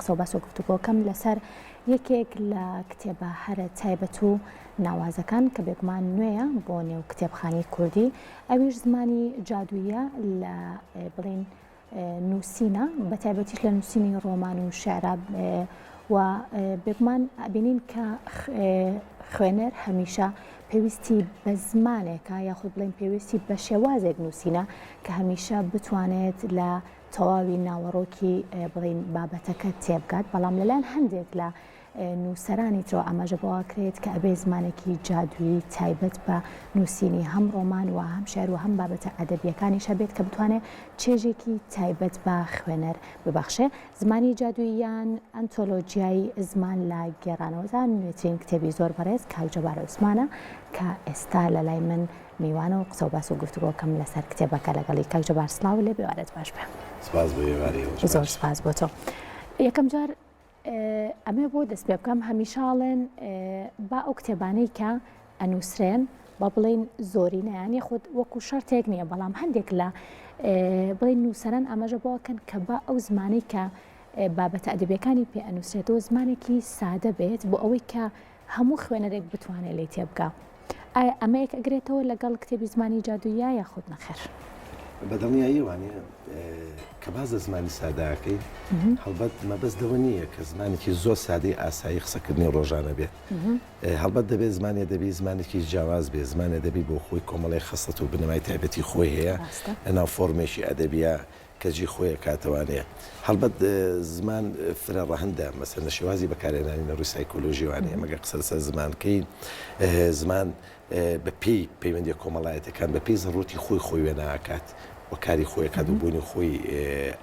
قسە و باس و گفتوگۆکەم لەسەر یەکێک لە کتێبە هەرە تایبەت و ناوازەکان کە بێگومان نوێیە بۆ نێو کتێبخانەی کوردی ئەویش زمانی جادووییە لە بڵێین نووسینە بە تایبەتیش لە نووسینی ڕۆمان و شعرا و بێگومان ئەبینین کە خوێنەر هەمیشە پێویستی بە زمانێکە یاخود بڵێن پێویستی بە شێوازێک نووسینە کە هەمیشە بتوانێت لە تەواوی ناوەڕۆکی بڵین بابەتەکە تێبگات بەڵام لەلایەن هەندێک لە نووسەرانی ترەوە ئاماژە بەوە کرێت کە ئەبێ زمانێکی جادووی تایبەت بە نووسینی هەم ڕۆمان و هەم شار و هەم بابەتە ئەدەبیەکانیش هەبێت کە بتوانێت چێژێکی تایبەت بە خوێنەر ببەخشێ زمانی جادووییان ئەنتۆلۆجیای زمان لە گێڕانەوەدا نوێترین کتێبی زۆر بەڕێز کاکجەبار عوسمانە کە ئێستا لە لای من میوانە و قسەوباس و گفتوگۆکەم لەسەر کتێبەکە لەگەڵی. کاک جەبار سڵاو لێبێ وارەت باش بێ. سپاس بۆ ئێوارەی ئێوەش باش. زۆر سپاس بۆ تۆ. یەکەم جار ئەمەوێ بۆ دەست پێ بکەم هەمیشە ئەڵێن با ئەو کتێبانەی کە ئەنووسرێن با بڵێن زۆرینەیان یەخود وەکو شەرتێک نییە بەڵام هەندێک لە بڵێن نووسەران ئاماژە بۆکەن کە با ئەو زمانەی کە بابەتە ئەدەبیەکانی پێ ئەنووسێتەوە زمانێکی سادە بێت بۆ ئەوەی کە هەموو خوێنەرێک بتوانێت لێی تێبگا. ئایا ئەمە یەکئەگرێتەوە لەگەڵ کتێبی زمانی جادووییا یاخود نەخێر؟ بە دڵنیایی وانیە. کە باس لە زمانی سادە ئەکەی، هەڵبەت مەبەست لەوە نییە کە زمانێکی زۆر سادەی ئاسایی قسەکردنی ڕۆژانە بێت. هەڵبەت دەبێت زمانی ئەدەبی زمانێکی جیاواز بێت، زمانی ئەدەبی بۆخۆی کۆمەڵێک خەسڵەت و بنەمای تایبەتی خۆی هەیە، لەناو فۆڕمێکی ئەدەبییا کەجی خۆیە کاتەوانەیە هەڵبەت زمان فرە ڕەهەندە مەسەن لە شێوازی بەکارێنانی نەڕوی سایکۆلۆژیوانەیە مەگە قسە لەسەر زمانکەین زمان بە پێی پەیوەندی کۆمەڵایەتەکان بە پێی زەڕوتی خۆی خۆی وێ ناکات وەکاری خۆیەکات و بوونی خۆی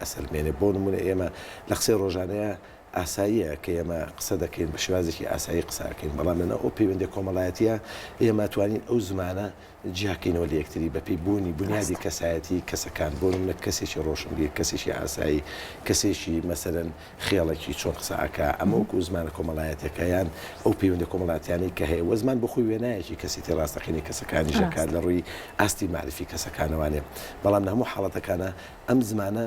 ئەسەلمێنێ بۆ نمونە ئێمە لە قسەی ڕۆژانەیە ئاساییە کە ئێمە قسە دەکەین بە شێوازێکی ئاسایی قساکەین بەڵام لەنە ئەو پەیوەندی کۆمەڵایەتە ئێمە توانین ئەو زمانە جیاکەینەوە لە یەکتری بەپێی بوونی بونیادی کەسایەتی کەسەکان بۆ منە کەسێکی ڕۆشنبیر کەسێکی ئاسایی کەسێکی مەسەرەن خێڵەکی چۆن قسەکە ئەمەوەکو زمانە کۆمەڵایەتەکەیان ئەو پەیوەندە کۆمەڵاتیانی کە هەیە وەزمان بخۆی وێنایەکی کەسێتی ڕاستەقینی کەسەکانی ژەکات لە ڕووی ئاستی معرفی کەسەکانەوانێ بەڵام لە هەموو حاڵەتەکانە ئەم زمانە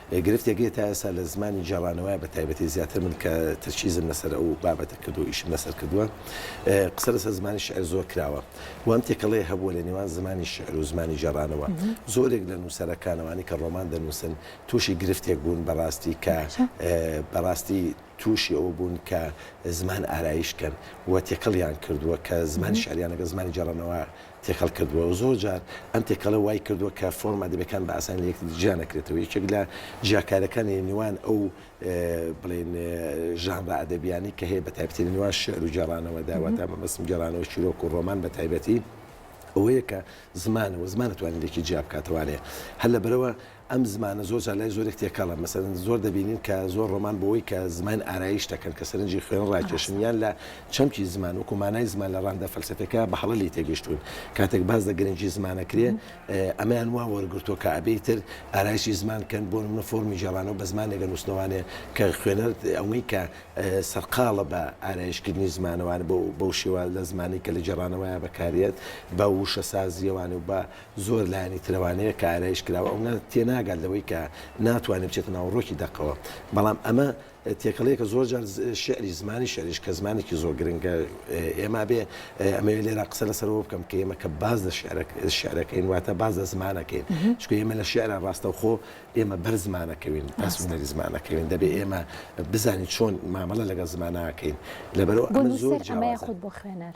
گرفتێک نیە تا ئێستا لە زمانی گێڕانەوەیا بە تایبەتی زیاتر من کە ترکیزم لەسەر ئەو بابەتە کردوە ئیشم لەسەر کردوە قسە لەسەر زمانی شیعر زۆر کراوە و ئەم تێکەڵەیە هەبووە لە نێوان زمانی شیعر و زمانی گێڕانەوە زۆرێک لە نووسەرەکان ئەوانەی کە ڕۆمان دەنووسن تووشی گرفتێک بوون بەڕاستی کە بەڕاستی تووشی ئەوە بوون کە زمان ئارایش کەن و تێکەڵیان کردووە کە زمانی شیعریان لەگەڵ زمانی گێڕانەوە تێکەڵ کردووە و زۆر جار ئەم تێکەڵە وای کردووە کە فۆرم ئەدەبیەکان بە ئاسانی لە یەکتری جیا نەکرێتەوە یەکێک لە جیاکارەکانی نێوان ئەو بڵێن ژانرە ئەدەبیانی کە هەیە بە تایبەتی لە نێوان شعر و گێڕانەوە داواتا مەبەستم گێڕانەوە چیرۆک و ڕۆمان بە تایبەتی ئەوەیە کە زمانەوە زمان توانێت لێکی جیا بکاتەوانێ هەر لە بەرەوە ئەم زمانە زۆر جار لای زۆرێک تێکەڵە، مەسەلەن زۆر دەبینین کە زۆر ڕۆمان بەوەی کە زمان ئارایش دەکەن کە سەرنجی خوێنەر ڕاکێشن یان لە چەمکی زمان وەکو مانای زمان لە ڕانندە فەلسەفیەکە بە هەڵە لێی تێگەیشتوون کاتێک باس لە گرنگی زمان ئەکرێ ئەمەیان وا وەرگرتووە کە ئەبێ ئیتر ئارایشی زمان کەن بۆ نمونە فۆرمی گێڕانەوە بە زمانێکە نووسنەوانێ کە خوێنەر ئەوەی کە سەرقاڵە بە ئارایشکردنی زمانەوانە بەو شێوە لە زمانی کە لە گێڕانەوەیە بەکاریەت بە ووشەسازیەوانێ و بە زۆر لایەنی ترەوانەیە کە ئارایش کراوە ئەو نا تێناگات لەوەی کە ناتوانێ بچێتە ناو ڕۆکی دەقەوە بەڵام ئەمە تێکەڵەیەکە زۆر جار شعری زمانی شعریش کە زمانێکی زۆر گرنگە ئێمە بێ ئەمەوێ لێرا قسە لەسەرەوە بکەم کە ئێمە کە باز لە شعرەکەین واتە باز لە زمانەکەین چکە ئێمە لە شعرە ڕاستەوخۆ ئێمە بەر زمانەکەوین باس هونەری زمانەکەوین دەبێ ئێمە بزانین چۆن مامەڵە لەگەڵ زماناکەین لەبەرەوە ئەمە زۆر جوانە خۆت بۆ خوێنەر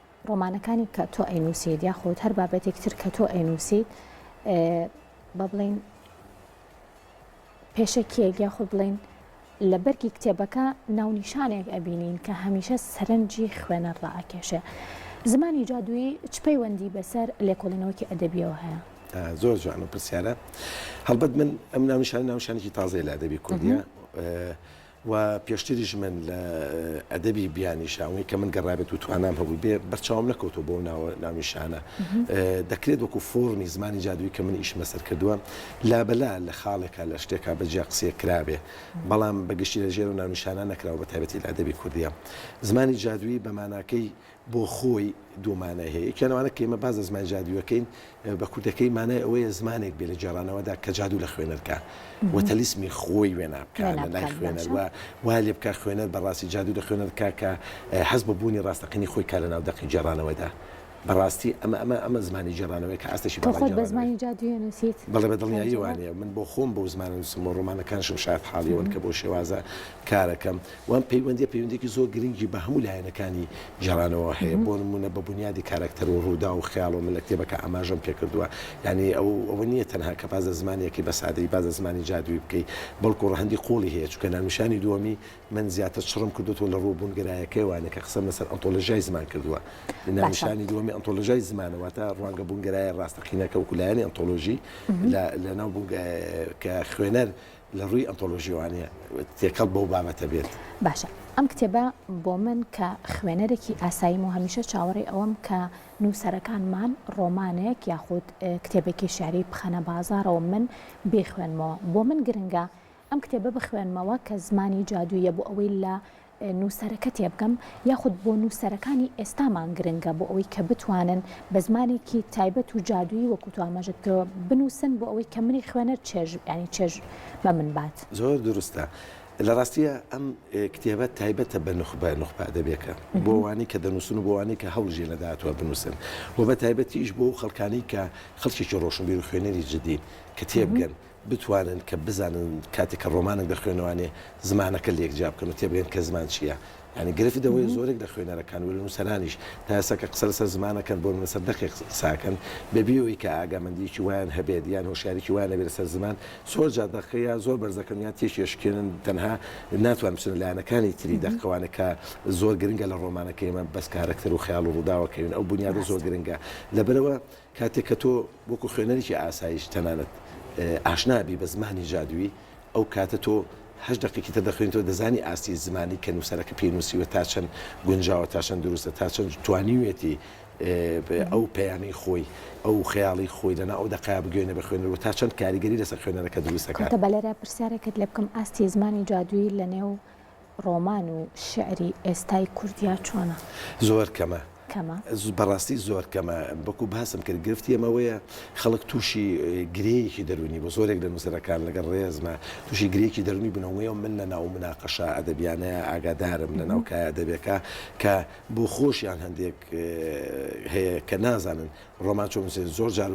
ڕۆمانەکانی کە تۆ ئەینووسیت یاخود هەر بابەتێکی تر کە تۆ ئەینووسیت بە بڵین پێشەکیەک یاخود بڵین لە بەرگی کتێبەکە ناونیشانێک ئەبینین کە هەمیشە سەرنجی خوێنەر ڕائکێشێ زمانی جادووی چ پەیوەندی بەسەر لێکۆڵینەوەکی ئەدەبیەوە هەیە زۆر جوان و پرسیارە هەڵبەت من ئەم ناونیشان ناونشانێکی تازای لە ئەدەبی کوردە و پێشتریش من لە ئەدەبی بیانی شاونی کە من گەڕابێت و توانام هەبوو بێ بەرچاوم نەکەوتەوە بۆ ناوە ناونیشانە دەکرێت وەکو فۆرمی زمانی جادووی کە من ئیشمە سەر کردووە لابلا لە خاڵێکا لە شتێکا بە جیا قسیە کرابێ بەڵام بەگشتی لە ژێر و ناونیشانە نەکراوە بە تایبەتی لە ئەدەبی کوردیە زمانی جادووی بەماناکەی بۆ خۆی دوو مانای هەیە، یەکیان ئەوانە کە ئێمە باس لە زمانی جادووی ئەکەین، بە کوردەکەی مانای ئەوەیە زمانێک بێ لە گێڕانەوەدا کە جادوو لە خوێنەر کا و تەلیسمی خۆی وێنا بکا لە لای خوێنەر و وا لێ بکا خوێنەر بە ڕاستی جادوو لە خوێنەر کا کە هەست بە بوونی ڕاستەقینەی خۆی کا لە ناو دەقی گێڕانەوەدا. بە ڕاستی ئەمە ئەمە ئەمە زمانی گێڕانەوەیە کە ئاستێکی باڵای گێڕانەوەیە. تۆ خۆت بە زمانی جادووی ئەنووسیت؟ بەڵێ بە دڵنیایی وانییە. من بۆ خۆم بەو زمانە ئەنووسم و ڕۆمانەکانیشم شایەتحاڵی ئەوەن کە بەو شێوازە کار ئەکەم. و ئەم پەیوەندییە پەیوەندییەکی زۆر گرنگی بە هەموو لایەنەکانی گێڕانەوە هەیە، بۆ نموونە بە بونیادی کارەکتەر و ڕووداو و خەیاڵەوە من لە کتێبەکە ئاماژەم پێ کردووە، یانی ئەو ئەوە نییە تەنها کە باس لە زمانێکی بە سادەیی باس لە زمانی جادوویی بکەی، بەڵکوو ڕەهەندی قووڵی هەیە، چونکە ناونیشانی دووەمی من زیاتر چڕم کردۆتەوە لە ڕووە بوونگەرایەکەیەوانە کە قسەم لەسەر ئۆنتۆلۆژیای زمان کردووە، ناونیشانی دووەمی ئۆنتۆلۆژیای زمانە واتە ڕوانگە بوونگەرایە ڕاستەقینەکە وەکوو لایەنی ئۆنتۆلۆژی لە لەناو بوونگە کە خوێنەر لە ڕووی ئەنتۆلۆژی وانیە تێکەڵ بەو بابەتە بێت. باشە ئەم کتێبە بۆ من کە خوێنەرێکی ئاساییم و هەمیشە چاوەڕێی ئەوەم کە نووسەرەکانمان ڕۆمانێک یاخود کتێبێکی شاری بخەنە بازاڕەوە من بێخوێنمەوە بۆ من گرنگە ئەم کتێبە بخوێنمەوە کە زمانی جادوویە بۆ ئەوەی لە نووسەرەکە تێبگەم یاخود بۆ نووسەرەکانی ئێستامان گرنگە بۆ ئەوەی کە بتوانن بە زمانێکی تایبەت و جادوویی وەکو تو ئاماژەت کردووە بنووسن بۆ ئەوەی کە منی خوێنەر چێژ ینی چێژ بە من بات. زۆر دروستە لە ڕاستییا ئەم کتێبە تایبەتە بە نوخبە نوخبە ئەدەبیەکە بۆ ئەوانەی کە دەنووسن و بۆ ئەوانەی کە هەوڵیشیان لە داهاتووە بنووسن و بە تایبەتیش بۆ ئەو خەڵکانەی کە خەڵکێکی ڕۆشنبیر و خوێنەری جددین کە تێبگەن بتوانن کە بزانن کاتێک کە ڕۆمانێک دەخوێنەوانێ زمانەکە لێک جیا بکەن و تێبگەن کە زمان چییە. یانی گرفت ئەوەیە زۆرێک لە خوێنەرەکان و لە نووسەرانیش تا ئێستا کە قسە لەسەر زمان ئەکەن بۆ من لەسەر دەقێک قسە ئەکەن بە بێ ئەوەی کە ئاگامەندییەکی وایان هەبێت یان هۆشیاریی وایان هەبێت لەسەر زمان زۆر جار دەقەکە یا زۆر بەرز ئەکەن یان تێکی ئەشکێنن تەنها ناتوانن بچنە لایەنەکانی تری دەق ئەوانە کە زۆر گرنگە لە ڕۆمانەکەی ئێمە بەس کارەکتەر و خەیاڵ و ڕووداوەکەوین ئەو بونیادە زۆر گرنگە لەبەرئەوە کاتێک کە تۆ وەکو خوێنەرێکی ئاساییش تەنانەت ئاشنا بی بە زمانی جادوویی، ئەو کاتە تۆ هەشت دەقێکی تر دەخوێنیتەوە، دەزانی ئاستی زمانی کە نووسەرەکە پێی نووسیوە تا چەند گونجاوە، تا چەند دروستە، تا چەند توانیویەتی ئەو پەیامەی خۆی، ئەو خەیاڵی خۆی لەناو ئەو دەقە بگەیەنێ بە خوێنەر و تا چەند کاریگەری لەسەر خوێنەرەکە دروست دەکات. کەواتە بە لێرە پرسیارێکت لێ بکەم، ئاستی زمانی جادوویی لەنێو ڕۆمان و شیعری ئێستای کوردیا چۆنە؟ زۆر کەمە. کەمە؟ بەڕاستی زۆر کەمە. وەکو باسم کرد گرفتی ئێمە ئەوەیە خەڵک تووشی گرێیەکی دەروونی بوو. زۆرێک لە نووسەرەکان لەگەڵ ڕێزما تووشی گرێیەکی دەروونی بوون. ئەوەی من لە ناو موناقەشە ئەدەبییانەیا ئاگادارم لە ناو کایە ئەدەبییەکە کە بۆ خۆشیان هەندێک هەیە کە نازانن ڕۆمان چۆن بنووسێ زۆر جار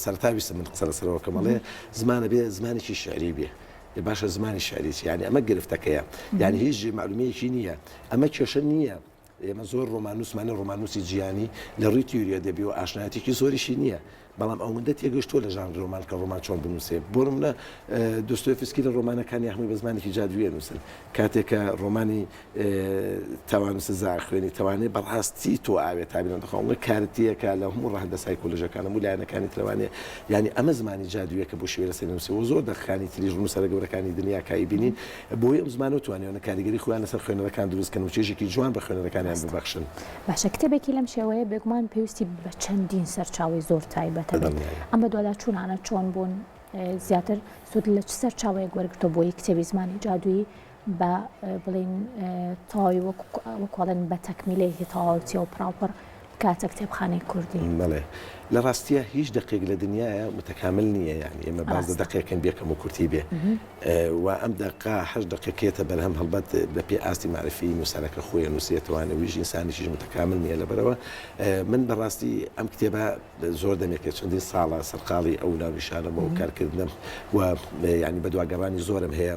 سەرتا ویستم من قسە لەسەرەوە کەم ئەڵێ زمانە بێ زمانێکی شعری بێ لە باشە زمانی شعری چی یعنی ئەمە گرفتەکەیە یعنی هیچ جێ معلومەیەکی نییە ئەمە کێشە نییە ئێمە زۆر ڕۆمانوسمانی ڕۆمانوسی جیانی لە ڕووی تیوریا دەبی و ئاشنایەتێکی زۆریشی نییە بەڵام ئەوەندە تێگەشتووە لە ژان ڕۆمان کە ڕۆمان چۆن بنووسێ بۆ منە دۆستۆفسکی لە ڕۆمانەکانی هەمووی بە زمانێکی جادوویە نووسن کاتێکە ڕۆمانی تاوان و سزا خوێنی تاوانێ بە ڕاستی تۆ ئاوێ تابیان دەخۆ ئەڵێ کارتیەکە لە هەموو ڕەهەندە سایکۆلۆژیەکان هەموو لایەنەکانی تر لەوانەیە یانی ئەمە زمانی جادوویە کە بۆ شێوە لەسەری نووسیوە زۆر دەقەکانی تریژ نووسەرە گەورەکانی دنیا کای بینین بۆیە ئەم زمانە توانیوانە کاریگەری خۆیان لەسەر خوێنەرەکان دروست کەن و چێژێکی جوان بە خوێنەرەکانیان ببەخشن. باشە کتێبێکی لەم شێوەیە بێگومان پێویستی بە چەندین سەرچاوەی زۆر تایبەتە بێت دڵنیایە. ئەم بەدواداچوونانە چۆن بوون؟ زیاتر سوود لە چ سەرچاوەیەک وەرگرتووە بۆ یەک کتێبی زمانی جادوویی؟ با بڵێین تەواوی وەکو ئەڵێن بە تەکمیلەیەکی تەواو چێ و پڕاوپڕ بکاتە کتێبخانەی کوردی. بەڵێ. لە ڕاستییا هیچ دەقێک لە دنیایا متەکامل نییە، یانی ئێمە باس لە دەقێکین بێ کەم و کورتی بێ و ئەم دەقە هەشت دەقێک کێتە بەرهەم هەڵبەت بە پێ ئاستی مەعریفیی نووسەرەکە خۆی نووسیەتەوە، یانی ویژی ئینسانیشیش متەکامل نییە لەبەرئەوە من بە ڕاستی ئەم کتێبە زۆر دەمێکە چەندین ساڵە سەرقاڵی ئەو ناونیشانەم و کارکردنم و یانی بەدواگەڕانی زۆرم هەیە.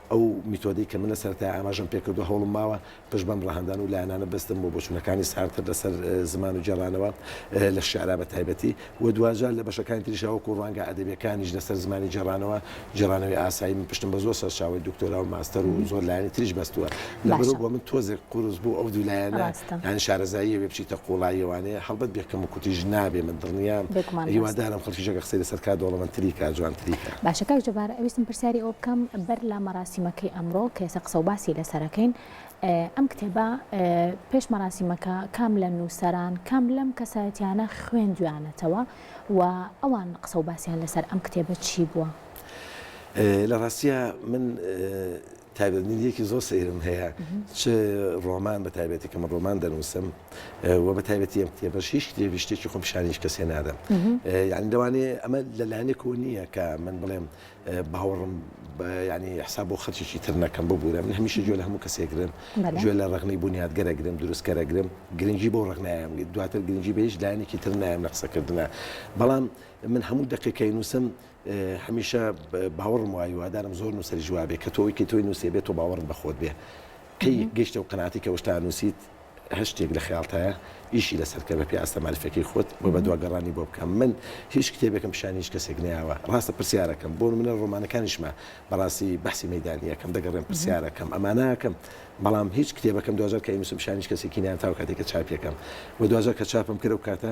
ئەو میتۆدەی کە من لە سەرەتای ئاماژەم پێ کردووە، هەوڵم ماوە پشت بەم ڕەهەندان و لایەنانە ببەستم بۆ بۆچوونەکانی سارتر لەسەر زمان و گێڕانەوە لە شیعرا بە تایبەتی و دواجار لە بەشەکانی تریشا وەکوو ڕوانگە ئەدەبییەکانیش لەسەر زمانی گێڕانەوە، گێڕانەوەی ئاسایی من پشتم بە زۆر سەرچاوەی دوکتۆرا و ماستەر و زۆر لایەنی تریش بەستووە. لەبەرو بۆ من تۆزێک قورس بوو ئەو دوو لایەنە یان شارەزاییە بێ بچیتە قوڵاییەوانەیە هەڵبەت بێ کەم و کوتیش نابێ من دڵنیام هیوادارم خەڵکیش ئەگەر قسەی لەسەر کا دەوڵەمەندتری کا جوانتری کا باشە کاک جەبار ئەویستم پرسیاری ئەوە بکەم بەر لە مەراسیمەکەی ئەمڕۆ کە ئێستا قسە و باسی لەسەرەکەین ئەم کتێبە پێش مەراسیمەکە کام لە نووسەران کام لەم کەسایەتیانە خوێندویانەتەوە و ئەوان قسە و باسییان لەسەر ئەم کتێبە چی بووە؟ لە ڕاستە من تایبەتمەندییەکی زۆر سەیرم هەیە چ ڕۆمان بە تایبەتی کە من ڕۆمان دەنووسم و بە تایبەتی ئەم کتێبەش هیچ کتێبی شتێکی خۆم پیشانیش کەسێ نادەم یعنی لەوانەیە ئەمە لەلایەنێکەوە نییە کە من بڵێم باوەڕم ینی حساب بۆ خەرچێکی تر نەکەم ببوورە من هەمیشە جوێ لە هەموو کەسێکگرم جوێ لە ڕغنی بنیاتگەرەگرم دروستکەرەگرم گرنگی بۆ ڕغنایەم دواتر گرنگی بە هیچ لایەنێکی تر نایم لە قسەکردە بەڵام من هەموو دقیقەی نووسم هەمیشە باوەڕم وایە هیوادارم زۆر نووسەریش وابێ کە تۆ ئەوەی کە تۆی نووسێ بێت تۆ باوەڕت بە خۆت بێ کەی گەیشتە و قەناعەتی کە ئەو شتە نووسیت هەر شتێک لە خەیاڵتایە ئیشی لەسەر کە بە پێی ئاستە مەعریفەکەی خۆت و بە دواگەڕانی بۆ بکە من هیچ کتێبێکم پیشانی هیچ کەسێک نەیاوە ڕاستە پرسیارەکەم بۆ نمونە ڕۆمانەکانیشمە بەڕاستی بەحسی مەیدانی یەکەم دەگەڕێم پرسیارەکەم ئەمانە ئەکەم بەڵام هیچ کتێبەکەم دوجار کە ئینوسم پیشانی هیچ کەسێکی نیان تاو کاتێک کە چاپیەکەم و دوجار کە چاپم کرد و کاتە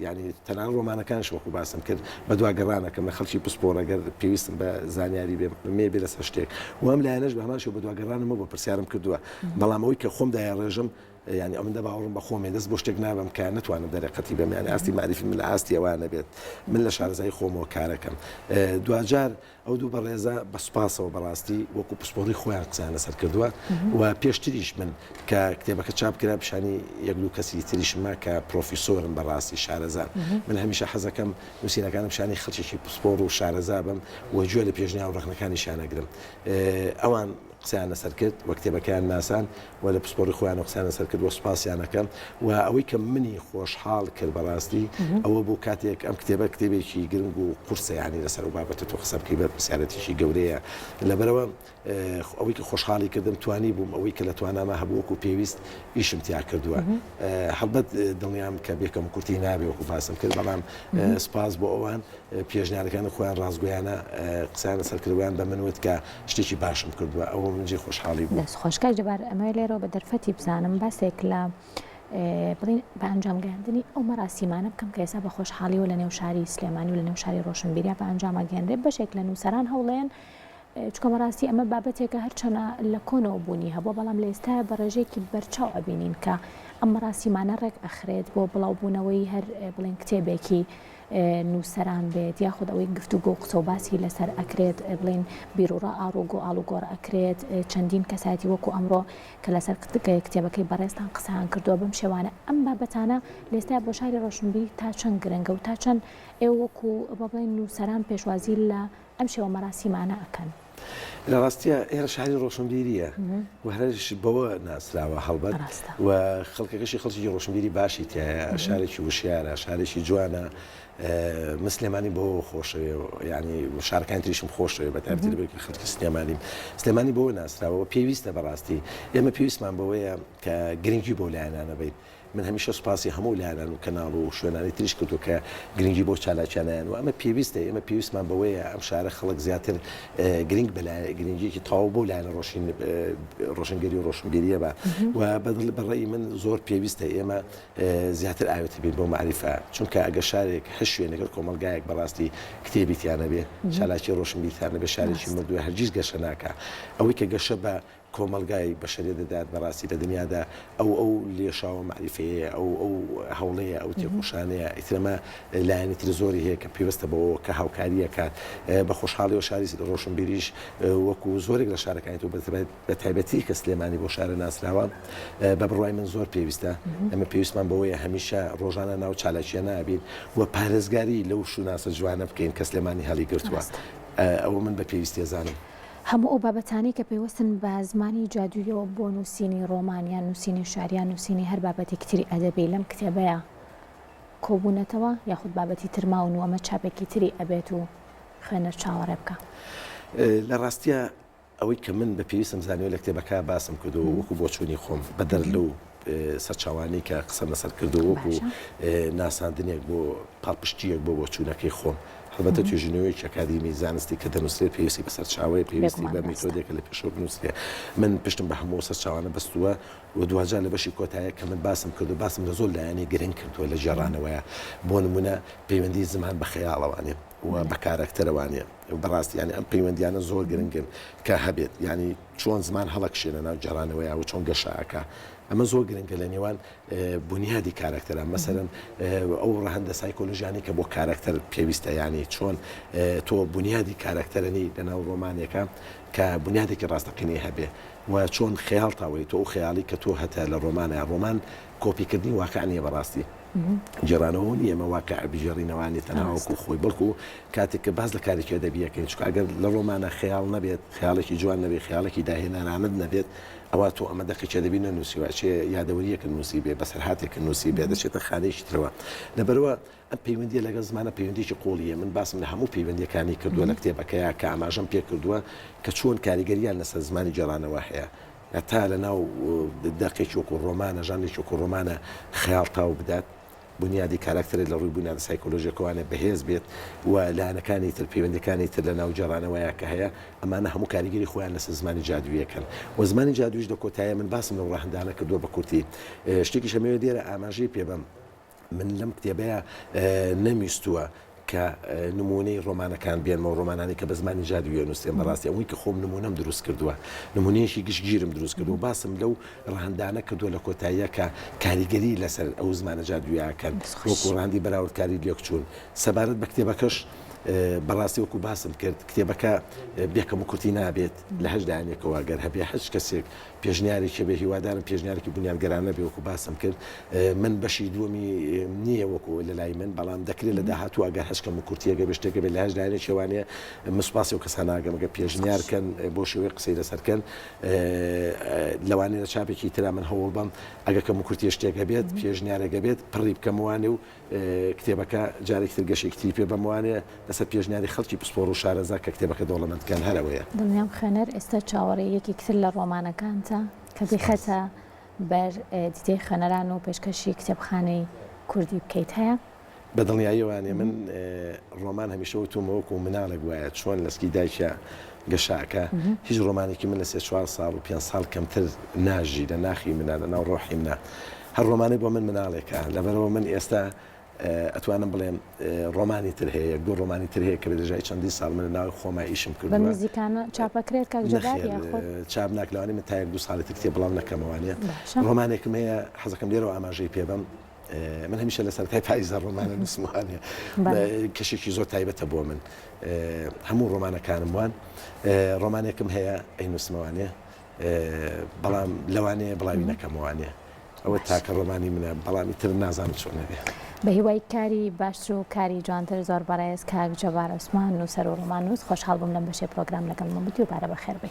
یانی تەنانەت ڕۆمانەکانیش وەکوو باسم کرد بە دوا گەڕان ئەکەم لە خەڵکی پسپۆڕ ئەگەر پێویستم بە زانیاری بێ مێ بێ لەسەر شتێک و ئەم لایەنەش بە هەمان شێوە بە دوا گەڕانم بۆ پرسیارم کردووە بەڵام ئەوەی کە خۆم دایاڕێژم یانی ئەوەندە باوەڕم بە خۆمێ دەست بۆ شتێک نابەم کە نەتوانم دەرێقەتی بەم یانی ئاستی مەعریفیم لە ئاستی ئەوانە بێت من لە شارەزایی خۆمەوە کار ئەکەم دواجار ئەو دوو بەڕێزە بە سوپاسەوە بەڕاستی وەکو پسپۆڕی خۆیان قسەیان لەسەر کردووە و پێشتریش من کە کتێبەکە چاپ کرا پیشانی یەک دوو کەسی تریشمە کە پرۆفیسۆرن بەڕاستی شارەزان من هەمیشە حەزەکەم نووسینەکانم پیشانی خەڵکێکی پسپۆڕ و شارەزا بم و گوێ لە پێشنیا و ڕەخنەکانیشیان ئەگرم ئەوان قسەیان لەسەر کرد و کتێبەکەیان ناسان و لە پسپۆری خۆیانەوە قسەیان لەسەر کرد و سوپاسیان ئەکەم و ئەوەی کە منی خۆشحاڵ کرد بەڕاستی ئەوە بوو کاتێک ئەم کتێبە کتێبێکی گرنگ و قورسە یانی لەسەر ئەو بابەتە تۆ قسە بکەی بەرپرسیارێتیی گەورەیە لەبەرئەوە ئەوەی کە خۆشحاڵی کردم توانی بووم ئەوەی کە لە تواناما هەبوو وەکوو پێویست ئیشم تیا کردووە هەڵبەت دڵنیام کە بێ کەموکورتی نابێ وەکوو باسم کرد بەڵام سوپاس بۆ ئەوان پێشنیارەکانی خۆیان ڕاستگۆیانە قسەیان لەسەر کرد وەیان بە من وت کە شتێکی باشم کردوە ئەوە من جێ خۆشحاڵی بووم. دەست خۆش کاک جەبار ئەمەوێ لێرەوە بە دەرفەتی بزانم باسێک لە بڵین بە ئەنجام گەیاندنی ئەو مەراسیمانە بکەم کە ئێسا بە خۆشحاڵیەوە لە نێو شاری سلێمانی و لە نێو شاری ڕۆشنبیریا بە ئەنجام ئەگەێنرێ بەشێک لە نووسەران هەوڵێن چکە مەراستی ئەمە بابەتێکە هەرچەنە لە کۆنەوە بوونی هەبوو بەڵام لە ئێستا بە ڕێژێکی بەرچاو ئەبینین کە ئەم ڕاستیمانە ڕێک ئەخرێت بۆ بڵاوبوونەوەی هەر بڵێن کتێبێکی نووسەران بێت یاخود ئەوەی گفتوگۆو قسەو باسی لەسەر ئەکرێت بڵێن بیروڕا ئاڵوگۆ ئاڵوگۆڕ ئەکرێت چەندین کەسایەتی وەکو ئەمڕۆ کە لەسەر کتێبەکەی بەڕێزتان قسەیان کردووە بەم شێوانە ئەم بابەتانە لێستا بۆ شاری ڕۆشنبیری تا چەند گرنگە و تا چەند ئێوە وەکو بڵێن نووسەران پێشوازی لە ئەم شێوە مەراسیمانە ئەکەن. لە ڕاستیە ئێرە شاری ڕۆشنبیریە و هەرش بەوە ناسراوە هەڵبەت و خەڵکەکەشی خەڵکی ڕۆشنبیری باشی تایە شارێکی وشارە شارێکی جوانە مسلێمانی بۆ خۆشەوێ ینی شارکان تریشم خۆشەوێ بە تابتر بێت کە خەڵکی سلێمانی سلێمانی بۆ ناسراوە پێویستە بەڕاستی ئێمە پێویستمان بەوەیە کە گرنگی بۆ لایەنانە بیت من هەمیشە سوپاسی هەموو لایەنان و کەناڵ و شوێنانی تریش کردووە کە گرنگی بەو چالاکیانە یان و ئەمە پێویستە ئێمە پێویستمان بەوەیە ئەم شارە خەڵک زیاتر گرنگ بە لایە گرنگیەکی تەواو بەو لایەنە ڕۆشین ڕۆشنگەری و ڕۆشنبیریە بە و بەدڵ بە ڕێی من زۆر پێویستە ئێمە زیاتر ئاوێتە بین بۆ معریفە چونکە ئەگە شارێک هەر شوێنەگەر کۆمەلگایەک بەڕاستی کتێبی تیانە بێ چالاکی ڕۆشنبیتانە بێ شارێکی مردووە هەرگیز گەشە ناکە ئەوەی کە گەشە بە کۆمەڵگای بەشەرێ دەدات بەڕاستی لە دنیادا ئەو ئەو لێشاوە مەعریفەیەیە ئەو ئەو هەوڵەیە ئەو تێکۆشانەیە ئیتر ئەمە لایەنی تر زۆری هەیە کە پێوستە بەوەوە کە هاوکاری ئەکات بە خۆشحاڵیەوە شاری ڕۆشنبیریش وەکو زۆرێک لە شارەکانی تۆ بە تایبەتی کە سلێمانی بۆ شارە ناسراوە بە بڕوای من زۆر پێویستە ئەمە پێویستمان بەوەیە هەمیشە ڕۆژانە ناو چالاکیە نابین و پارێزگاری لەو شوناسە جوانە بکەین کە سلێمانی هەڵیگرتووە ئەوە من بە پێویستێزانم. هەموو ئەو بابەتانەی کە پەیوەستن بە زمانی جادووییەوە بۆ نووسینی ڕۆمان یان نووسینی شار یان نووسینی هەر بابەتێکی تری ئەدەبی لەم کتێبەیا کۆبوونەتەوە یاخود بابەتی تر ماون و ئەمە چاپێکی تری ئەبێت و خوێنەر چاوەڕێ بکا. لە ڕاستیا ئەوەی کە من بە پێویستم زانیوە لە کتێبەکە باسم کردووە و وەکوو بۆچوونی خۆم بە دەر لەو سەرچاوانەی کە قسەم لەسەر کردووە وەکو ناساندنێک بۆ پاڵپشتییەک بۆ بۆچوونەکەی خۆم. هەڵبەتە توێژینەوەیەکی ئەکادیمی زانستی کە دەنووسرێت پێویستی بە سەرچاوەیە، پێویستی بە میتۆدێکە لە پێشەوە بنووسرێت. من پشتم بە هەموو ئەو سەرچاوانە بەستووە و دواجار لە بەشی کۆتایە کە من باسم کردووە، باسم لە زۆر لایەنی گرنگ کردووە لە گێڕانەوەیە. بۆ نموونە پەیوەندیی زمان بە خەیاڵەوە نییە و بە کارەکتەرەوە نییە. بەڕاستی یانی ئەم پەیوەندییانە زۆر گرنگن کە هەبێت. یانی چۆن زمان هەڵەکشێنە ناو گێڕانەوەیا و چۆن گەشە ئەکا. ئەمە زۆر گرنگە لە نێوان بونیادی کارەکتەران. مەسەلەن ئەو ڕەهەندە سایکۆلۆژیانەی کە بۆ کارەکتەر پێویستە یانی چۆن تۆ بونیادی کارەکتەرەنی لە ناو ڕۆمانێکا کە بونیادێکی ڕاستەقینەی هەبێ و چۆن خەیاڵتاوەی تۆ ئەو خەیاڵی کە تۆ هەتە لە ڕۆمانە ڕۆمان کۆپی کردنی واقع نیە بەڕاستی گێڕانەوە نیە ئێمە واقع بگێڕینەوە یانی تەنها وەکو خۆی بەڵکو کاتێک کە باس لە کارێکی ئەدەبی یەکەین چونکە ئەگەر لە ڕۆمانە خەیاڵ نەبێت خەیاڵێکی جوان نەبێت خەیاڵێکی داهێنەرانەت نەبێت ئەوە تۆ ئەمە دەقێکی ئەدەبی نەنووسیوە چێ یادەوەرییەکت نووسیبێ بەسەرهاتێکت نووسیبێ دەچێتە خانەیەکی ترەوە لەبەرەوە ئەم پەیوەندییە لەگەڵ زمانە پەیوەندییەکی قووڵی هەیە، من باسم لە هەموو پەیوەندییەکانی کردووە لە کتێبەکەیا کە ئاماژەم پێ کردووە کە چۆن کاریگەرییان لەسەر زمانی گێڕانەوە هەیە هەتا لەناو دەقێکی وەکوو ڕۆمانە، ژانرێکی وەکوو ڕۆمانە خەیاڵ تاو بدات، بونیادی کاراکتەرێک لە ڕووی بونیادە سایکۆلۆژییەکەوانێ بەهێز بێت و لایەنەکانی تر، پەیوەندییەکانی تر لەناو گێڕانەوەیا کە هەیە، ئەمانە هەموو کاریگەری خۆیان لەسەر زمانی جادوویی ئەکەن و زمانی جادووییش لە کۆتاییا من باسم لەو ڕەهەندانە کردووە بە کورتی. شتێکیشم ئەوێ لێرە ئاماژەی پێ بەم. من لەم کتێبەیا نەمویستووە کە نمونەی ڕۆمانەکان بێنمەوە ڕۆمانانی کە بە زمانی جادی وێ نووسێن بەڕاستی ئەوەی کە خۆم نمونەم دروست کردووە نمونەیەشی گشتگیرم دروست کردو باسم لەو ڕەهندانە کردووە لە کۆتاییە کە کاریگەری لەسەر ئەو زمانە جادویاکەن وەکو ڕاندی بەراوردکاری لێکچوون سەبارەت بە کتێبەکەش بەڕاستی وەکو باسم کرد کتێبەکە بێکەم و کورتی نابێت لە هەشدانێکەوە گەر هەبێ هەچ کەسێک پێشنیارێکە بێ هیوادارم پێشنیارێکی بونیادگەرانە بێ وەکو باسم کرد من بەشی دووەمی نییە وەکو لە لای من بەڵام دەکرێت لە داهاتوو ئەگەر هەچکەم و کورتیەگە بێ شتێکە بێ لە هەش لایەنە شێوانەیە من سوپاسی و کەساناگەمەگە پێشنیارکەن بۆ شێوەی قسەی لەسەرکەن لەوانەیە لە چاپێکی ترا من هەوڵ بەم ئەگەکەم و کورتی شتێک هەبێت پێشنیارەگە بێت پڕی بکەموانێ و کتێبەکە جارێکی تر گەشەیەکی تری پێ بەم وانەیە لەسەر پێشنیاری خەڵکی پسپۆڕ و شارەزا کە کتێبەکە دەوڵەمەندکەن هەر ئەوەیە. دڵنیام خوێنەر ئێستا چاوەڕێی یەکێکی تر لە ڕۆمانەکانتە کە بیخەیتە بەر دیدەی خوێنەران و پێشکەشی کتێبخانەی کوردی بکەیت هەیە؟ بە دڵنیاییەوانێ من ڕۆمان هەمیشە وتومە وەکو مناڵێک وایە چۆن لە سکی دایکیا گەشاکە هیچ ڕۆمانێکی من لە سێ چوار ساڵ و پێنج ساڵ کەمتر ناژی لە ناخی منە لە ناو ڕۆحی منە هەر ڕۆمانێ بۆ من مناڵێکە، لەبەرئەوە من ئێستا ئەتوانم بڵێم ڕۆمانی تر هەیە، یەک دوو ڕۆمانی تر هەیە کە بە درێژای چەندین ساڵ من لە ناوی خۆما ئیشم کردووە. بە نزیکانە چاپ ئەکرێت کاک جەبار یاخود؟ نەخێر چاپ ناکرێت، لەوانەیە من تا یەک دوو ساڵی تر کتێب بڵاو نەکەم، وانییە. باشە. ڕۆمانێکم هەیە حەز ئەکەم لێرەوە ئاماژەی پێ بەم، من هەمیشە لە سەرەتای پاییزدا ڕۆمان ئەنووسم وانییە. بەڵێ. کەشێکی زۆر تایبەتە بۆ من، هەموو ڕۆمانەکانم وان. ڕۆمانێکم هەیە ئەینووسمەوە وانییە. بەڵام لەوانەیە بڵاوی نەکەمەوانێ ئەوە تاکە ڕۆمانی منە بەڵامی تر نازانم چۆنەێ بە هیوای کاری باشتر و کاری جوانتر زۆر بەڕێز کاک جەبار عوسمان نووسەر و ڕۆمان نووس خۆشحاڵ بووم لەم بەشێ پرۆگرام لەگەڵ مەمەدی و بارە بەخێربێ.